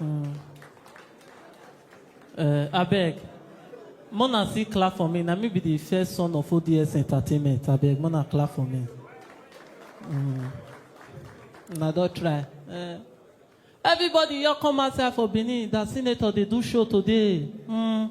Mm. Uh, abeg mona still clap for me na me be the first son of ods entertainment abeg mona clap for me mm. na don try uh, everybody here come outside for benin that senator dey do show today mm.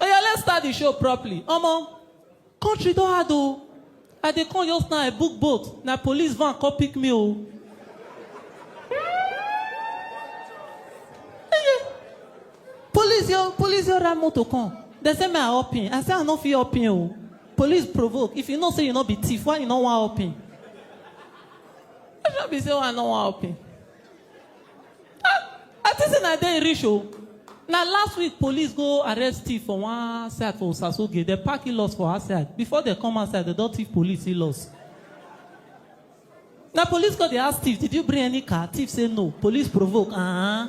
Oya let's start the show properly omo country don hard o I dey come just now I book boat na police van come pick me o. Police yo police yo ride motor come dem say me I hop in I say I no fit hop in o police provoke if you know say you no be thief why you no wan hop in? Which one be say why I no wan hop in? I think say na there e reach o. Na last week police go arrest thief for one side for Osasoge. Dem park in-laws for outside. Before dem come outside, dem don thief police in-laws. Na police go dey ask thief, did you bring any car? Thief say no. Police provoke, uh-huh.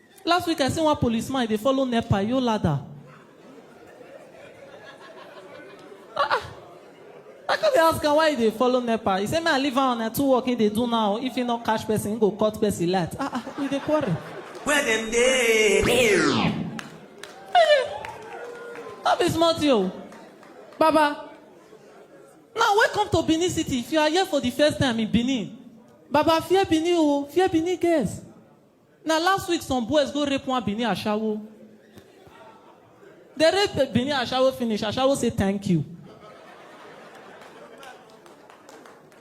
Last week I see one police man dey follow nepa yo ladder. Ah ah. I come dey ask am why he dey follow nepa. He say make I leave am on a two work he dey do now. If he no catch person, he go cut person light. Ah ah, we dey quarrel. Where them dey? No be small thing o. Baba, now welcome to Benin City. If you are here for the first time in Benin, Baba fear Benin o, fear Benin girls. Na last week some boys go rape one Benin ashawo. Dem rape Benin ashawo finish, ashawo say thank you.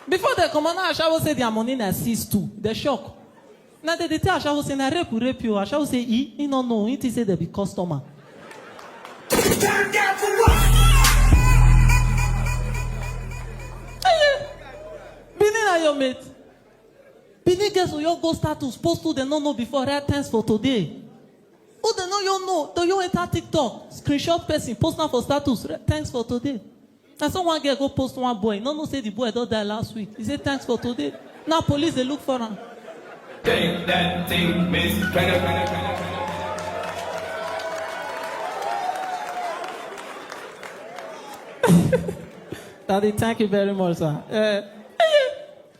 Before dem comot, na ashawo say their money na seize too. Dem shock. Na dem dey tell ashawo say na rape we rape you. Ashawo say e, he no know, he think say dem be customer. Benin na your mate. Benin girls will your go status post who dem no know before write thanks for today. Who dem no you know, do you enter TikTok, screenshot person, post am for status, write thanks for today. Na so one girl go post one boy, no know say the boy don die last week. He say thanks for today. Now police dey look for am. Take that thing, Miss Kenya, Kenya, Kenya, Kenya. Daddy, thank you very much, sir. Eh,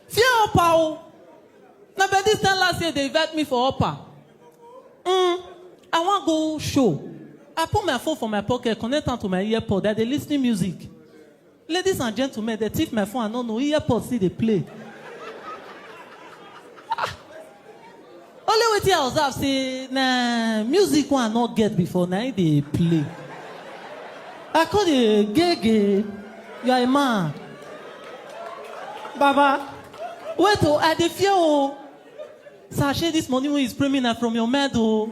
Fear upper o. Na by this time last year they invite me for upper. Mm, I wan go show. I put my phone for my pocket, connect am to my earpod. I dey lis ten music. Ladies and gentlemen, they thief my phone. I no know earpod still dey play. Only wetin I observe say na music wey I no get before na im dey play. I come dey gege, you are a man. Baba, wait o, I dey fear o. Sir, shey this money wey you spray me na from your mind o.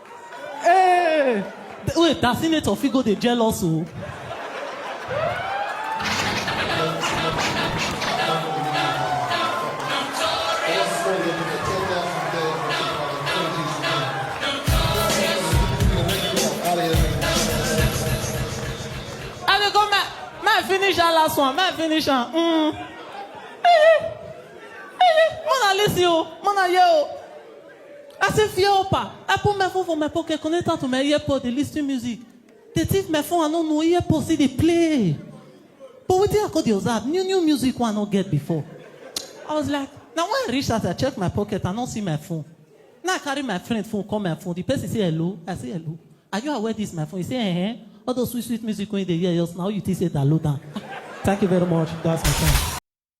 Hey! Th- Wait, that senator fit go dey jealous o. I dey go ma ma finish that last one, ma finish am. Mm. Mona listen o, Mona hear o. I say fear upper. I put my phone for my pocket, connect am to my earpod, dey lis ten music. Dey thief my phone, I no know, earpod still dey play. But wetin I come dey observe, new new music wey I no get before. I was like, na when I reach house, I check my pocket, I no see my phone. Now I carry my friend phone call my phone, the person say hello, I say hello. Are you aware this my phone? He say eh, all those sweet sweet music wey you dey hear just now, you think say download am. Thank you very much, that's my time.